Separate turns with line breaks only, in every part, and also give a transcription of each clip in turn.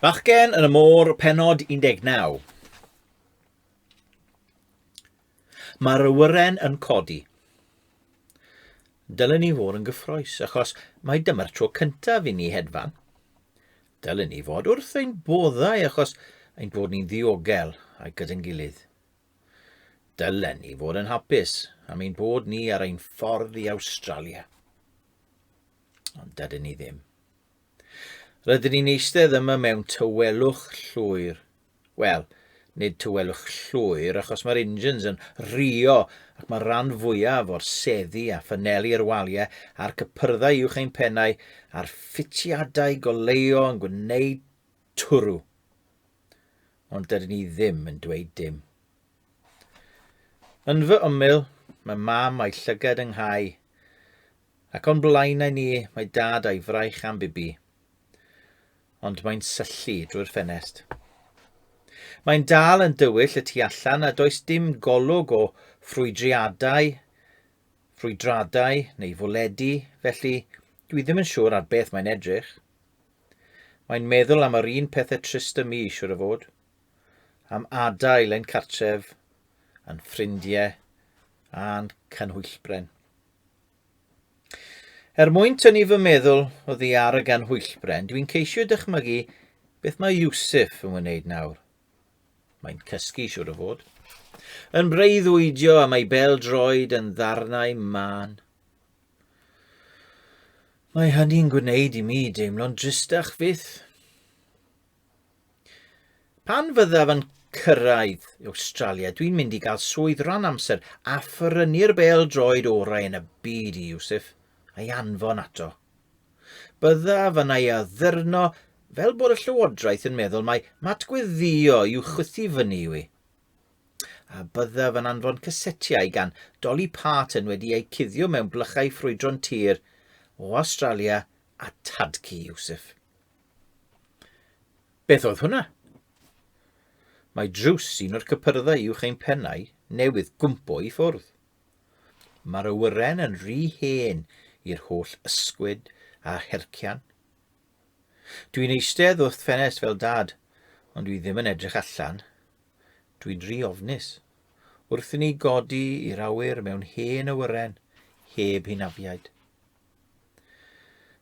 Bachgen yn y môr, penod 19. Mae'r awyren yn codi. Dylen ni fod yn gyffroes, achos mae dyma'r tro cyntaf i ni hedfan. Dylen ni fod wrth ein boddau, achos ein bod ni'n ddiogel a'i gyda'n gilydd. Dylen ni fod yn hapus am ein bod ni ar ein ffordd i Awstralia. Ond dydyn ni ddim. Rydyn ni'n eistedd yma mewn tywelwch llwyr. Wel, nid tywelwch llwyr achos mae'r engines yn rio ac mae'r rhan fwyaf o'r seddi a ffyneli'r waliau a'r cypyrddau uwch ein pennau a'r ffitiadau goleuo yn gwneud Twrw. Ond dydyn ni ddim yn dweud dim. Yn fy ymyl, mae mam a'i llygad yng nghau, ac o'n blaenau ni mae dad a'i fraich am bibi. Ond mae'n syllu drwy'r ffenest. Mae'n dal yn dywyll y tu allan a does dim golwg o ffrwydriadau, ffrwydradau neu fwledi, felly dwi ddim yn siŵr ar beth mae'n edrych. Mae'n meddwl am yr un pethe trist y mi, siwr o fod. Am adael ein cartref, yn ffrindiau, a'n canhwyllbren. Er mwyn tynnu fy meddwl o ddi ar y ganhwyllbren, dwi'n ceisio dychmygu beth mae Yusuf yn wneud nawr. Mae'n cysgu, siwr o fod. Yn breuddwydio am ei bel droed yn ddarnau man. Mae hynny'n gwneud i mi deimlo'n dristach fyth. Pan fyddaf yn cyrraedd Awstralia, dwi'n mynd i gael swydd rhan amser a ffyrynnu'r bel droed orau yn y byd i Yusuf a'i anfon ato. Byddaf yn ei addurno fel bod y llywodraeth yn meddwl mai matgweddio i'w chwythu fyny yw i. a byddaf yn anfon cysetiau gan Dolly Parton wedi eu cuddio mewn blychau ffrwydron tir o Awstralia a Tadci Iwsif. Beth oedd hwnna? Mae drws un o'r cypyrddau uwch ein pennau newydd gwmpo i ffwrdd. Mae'r awyren yn rhy hen i'r holl ysgwyd a hercian. Dwi'n eistedd wrth ffenest fel dad, ond dwi ddim yn edrych allan. Dwi'n rhy ofnus. Wrth i ni godi i'r awyr mewn hen awyren, heb hunafiaid.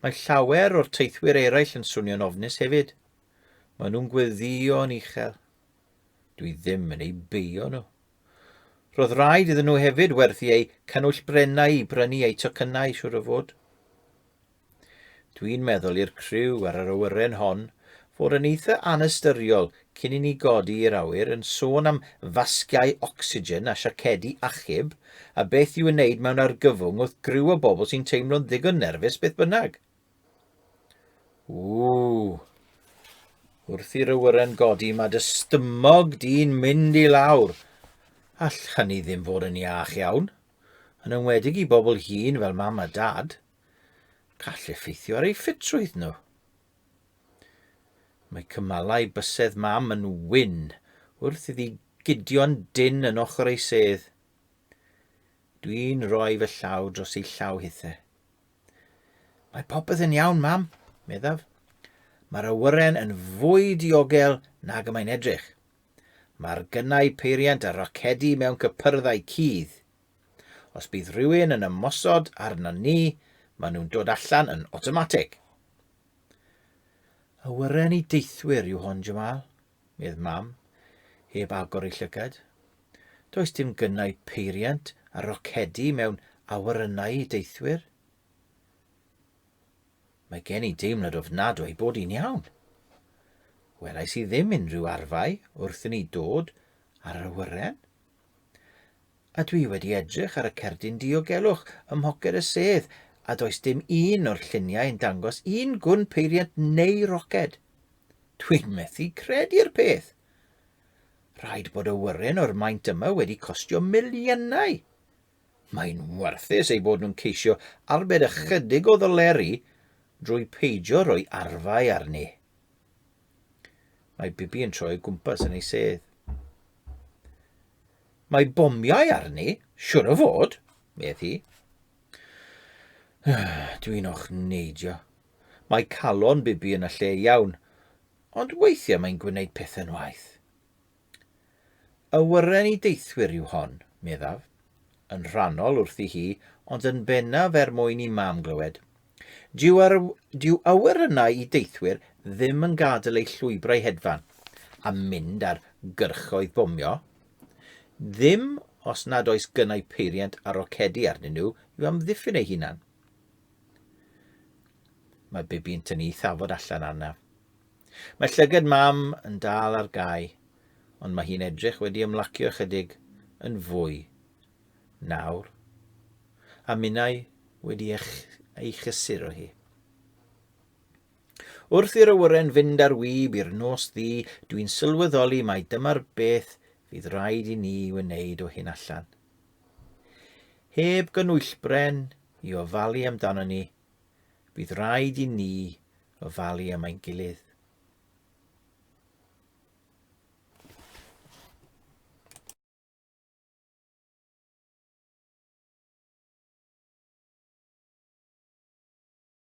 Mae llawer o'r teithwyr eraill yn swnio'n ofnus hefyd. Maen nhw'n gweddio'n uchel. Dwi ddim yn eu beio nhw. Roedd rhaid iddyn nhw hefyd werthu eu canwyll brennau i brynu eu tocynnau, siwr o fod. Dwi'n meddwl i'r criw ar yr awyren hon fod yn eitha anystyriol cyn i ni godi i'r awyr yn sôn am fasgiau ocsigen a siacedi achub a beth i'w wneud mewn argyfwng wrth griw o bobl sy'n teimlo'n ddigon nerfus beth bynnag. Ww. Wrth i'r awyren godi mae dy stymog di'n mynd i lawr. All hynny ddim fod yn iach iawn. Yn enwedig i bobl hŷn fel mam a dad. gall effeithio ar eu ffitrwydd nhw. Mae cymalau bysedd mam yn wyn wrth iddi gudio'n dyn yn ochr ei sedd. Dwi'n rhoi fy llaw dros ei llaw hithe. Mae popeth yn iawn, mam, meddaf. Mae'r awyren yn fwy diogel nag y mae'n edrych. Mae'r gynnau peiriant a rocedi mewn cypyrddau cudd. Os bydd rhywun yn ymosod arnon ni, maen nhw'n dod allan yn awtomatig. Awyren i deithwyr yw hon, Jamal, medd mam, heb agor ei llygad. Does dim gynnau peiriant a rocedi mewn awyrennau i deithwyr. Mae gen i deimlad ofnadw ei bod hi'n iawn. Welais i ddim unrhyw arfau wrth i ni dod ar yr awyren. A dwi wedi edrych ar y cerdyn diogelwch ym mhoced y sedd a does dim un o'r lluniau yn dangos un gwn peiriant neu roced. Dwi'n methu credu'r peth! Rhaid bod y wyren o'r maint yma wedi costio miliynau. Mae'n warthus ei bod nhw'n ceisio arbed ychydig o ddoleri drwy peidio rhoi arfau arni. Mae Bibi yn troi o gwmpas yn ei sedd. Mae bomiau arni, siwr o fod, medd hi. Dwi'n o'ch neidio. Mae calon Bibi yn y lle iawn, ond weithiau mae'n gwneud pethau'n waith. Awyren i deithwyr yw hon, meddaf, yn rhannol wrthi hi, ond yn bennaf er mwyn i Mam glywed. Dyw, ar, dyw awyrennau i deithwyr ddim yn gadael eu llwybrau hedfan, a mynd ar gyrchoedd bomio. Ddim os nad oes gynnau peiriant a rocedi arnyn nhw i'w amddiffyn eu hunan. Mae Bibi'n tynnu ei thafod allan arnaf. Mae llygad Mam yn dal ar gau, ond mae hi'n edrych wedi ymlacio ychydig yn fwy nawr, a minnau wedi ei chysuro hi. Wrth i'r awyren fynd ar wyb i'r nos ddi, dwi'n sylweddoli mai dyma'r beth fydd rhaid i ni wneud o hyn allan. Heb gynwyllbren i ofalu amdano ni, Bydd rhaid i ni ofalu am ein gilydd.